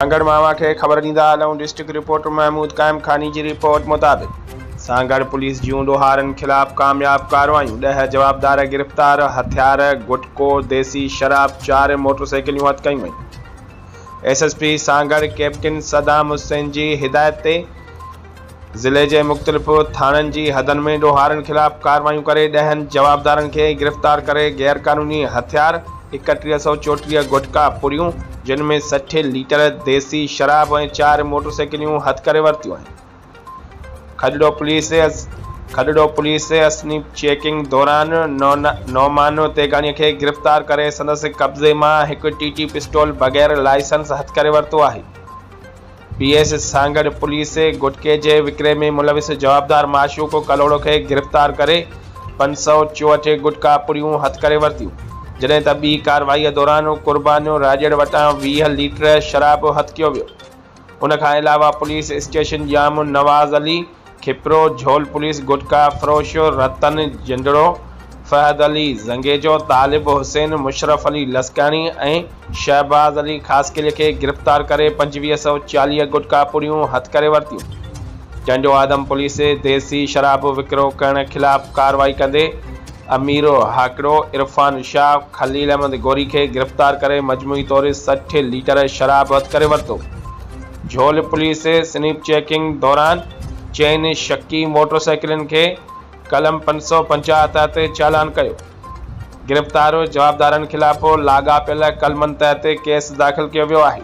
سانگهڙ معاون کي خبر ڏيندا هلون، ڊسٽرڪٽ رپورٽر محمود قائم خاني جي رپورٽ مطابق سانگهڙ پوليس جون ڏوهارن خلاف ڪامياب ڪارروايون، ڏهه جوابدار گرفتار، هٿيار، گٽڪو، ديسي شراب، چار موٽرسائيڪليون هٿ ڪيون ويون. S S P Sanghar captain Saddam Hussain جي هدايت تي. ضلعي جي مختلف ٿاڻن جي حدن ۾ ڏوهارن خلاف ڪارروايون ڪري ڏهن جوابدارن کي گرفتار ڪري غيرقانوني هٿيار، ايڪٽيهه سؤ چوٽيهه گٽڪا پڙيون جن ۾ سٺ ليٽر ديسي شراب ۽ چار موٽرسائيڪليون هٿ ڪري ورتيون آهن. Khadro police Khadro police snap checking دوران نعمان تيغاڻي کي گرفتار ڪري سندس قبضي مان هڪ ٽي ٽي پسٽول بغير لائسنس هٿ ڪري ورتو آهي. پي ايس سانگهڙ پوليس گٽڪي جي وڪري ۾ ملوث جوابدار معشوق ڪلهوڙو کي گرفتار ڪري پنج سؤ چوهٺ گٽڪا پڙيون هٿ ڪري ورتيون جڏهن ته ٻي ڪارروائي دوران قربان راڄڙ وٽان ويهه ليٽر شراب هٿ ڪيو ويو ان کان علاوه police station Jam Nawaz Ali Khipro, Jhol police gutka فروش رتن جنڊڙو، فهد علي زنگيجو، طالب حسين، مشرف علي لسڪاڻي ۽ شهباز علي خاصخيلي کي گرفتار ڪري پنجويهه سؤ چاليهه گٽڪا پوريون هٿ ڪري ورتيون. ٽنڊو آدم پوليس ديسي شراب وڪرو ڪرڻ خلاف ڪارروائي ڪندي اميرو هاڪڙو، عرفان شاهه، خليل احمد گوري کي گرفتار ڪري مجموعي طور سٺ ليٽر شراب هٿ ڪري ورتو. جھولا پوليس سنيپ چيڪنگ دوران چئن شڪي موٽر سائيڪلن کي قلم پنج سؤ پنجاهه تحت چالان ڪيو، گرفتار جوابدارن خلاف لاڳاپيل قلمن تحت ڪيس داخل ڪيو ويو آهي.